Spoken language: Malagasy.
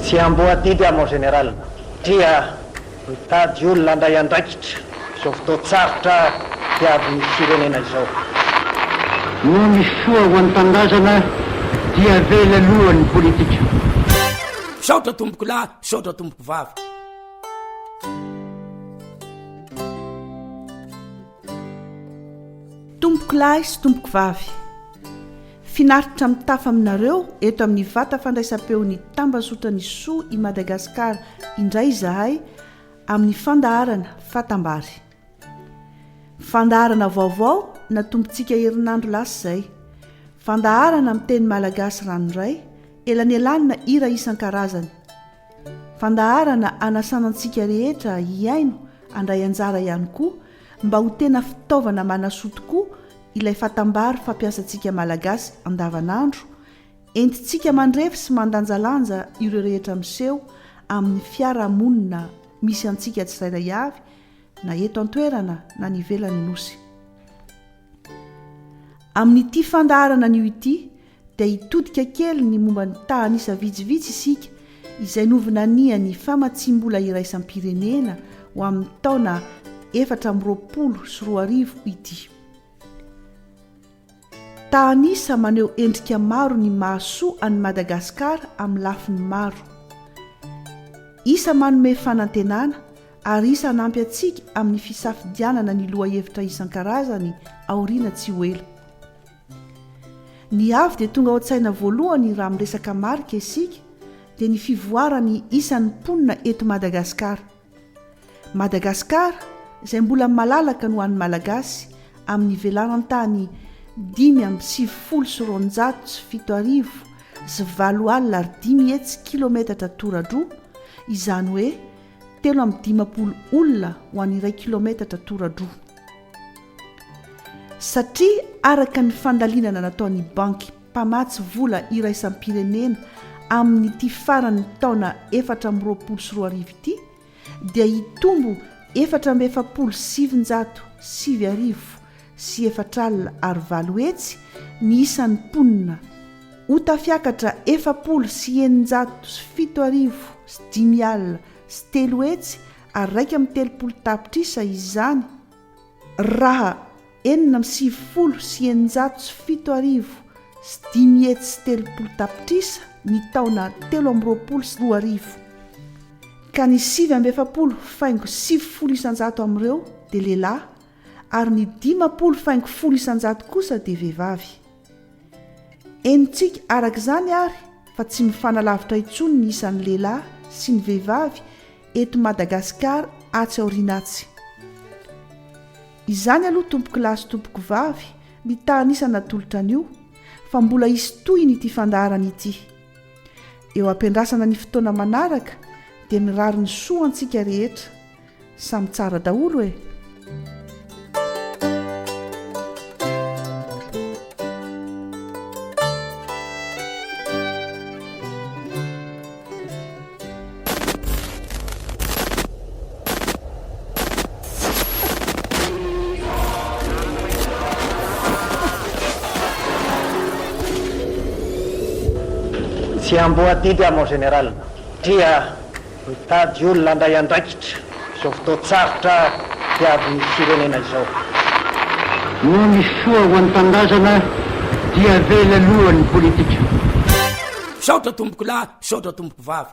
Tsy amboadidy aho mon général satria mitady olona handray andraikitra izao fotoan-tsarotra diavin'ny firenena izao. Noho ny soa ho an'ny tanindrazana dia avela aloha ny politika. Misaotra tompokolahy. Misaotra tompoko vavy. Tompoko lahy sy tompoko vavy. Finaritra mitafa aminareo eto amin'ny vata fandraisam-peon'ny Tambazotra Ny Soa i Madagasikara indray izahay amin'ny fandaharana Fatambary. Fandaharana vaovao natombotsika herinandro lasa izay. Fandaharana amin'ny teny malagasy ranoray, elanelanina hira isan-karazany. Fandaharana hanasana antsika rehetra hihaino handray anjara ihany koa mba ho tena fitaovana manasoa tokoa ilay fatambary fampiasantsika malagasy andavanandro, entintsika mandrefy sy mandanjalanja ireo rehetra miseho amin'ny fiarahamonina misy antsika tsirairay avy na eto an-toerana na any ivelan'ny Nosy. Amin'ity fandaharana anio ity dia hitodika kely ny momba ny tahan'isa vitsivitsy isika izay novinanian'ny famatsiam-bola iraisam-pirenena ho amin'ny taona efatra amby roapolo sy roa arivo ity. Ta an'isa maneho endrika maro ny mahasoa an'i Madagasikara amin'ny lafiny maro. Isa manome fanantenana ary isa hanampy antsika amin'ny fisafidianana ny lohahevitra isan-karazany aoriana tsy ho ela. Ny avy dia tonga ao an-tsaina voalohany raha miresaka marika isika dia ny fivoaran'ny isan'ny mponina eto Madagasikara. Madagascar izay mbola malalaka no an'ny Malagasy amin'ny velaran-tany dimy amby sivifolo sy roanjato sy fito arivo sy valo alina ary dimy hetsy kilometatra toradroa, izany hoe telo amby dimampolo olona ho an'ny iray kilometatra toradroa. Satria araka ny fandalinana nataon'ny Banky. mpamatsy vola iraisam-pirenena amin'ity faran'ny taona efatra amby roapolo sy roa arivo ity dia hitombo efatra amby efapolo sy sivinjato sivy arivo sy efatra alina ary valo hetsy ny isan'ny mponina ho tafiakatra efapolo sy eninjato sy fito arivo sy dimy alina sy telo hetsy ary iraika amby telopolo tapitrisa izany Raha enina amby sivifolo sy eninjato sy fito arivo sy dimy hetsy sy telopolo tapitrisa ny taona telo amby roapolo sy roa arivo, ka ny sivy amby efapolo faingo sivifolo isanjato amin'ireo dia lehilahy ary ny dimampolo faingo folo isanjato kosa dia vehivavy. Henontsika araka izany àry fa tsy mifanalavitra intsony ny isan'ny lehilahy sy ny vehivavy eto Madagasikara atsy aoriana atsy. Izany aloha tompokolahy sy tompokovavy mitaha an'isa natolotra anio fa mbola hisy tohiny ity fandaharana ity. Eo ampiandrasana ny fotoana manaraka dia mirary ny soa antsika rehetra Samy tsara daholo e! Tsy amboa didy aho mon général, dria. Mitady olona handray andraikitra izao fotoan-tsarotra diavin'ny firenena izao. Noho ny soa ho an'ny tanindrazana dia avela aloha ny politika. Misaotra tompokolahy, misaotra tompokovavy.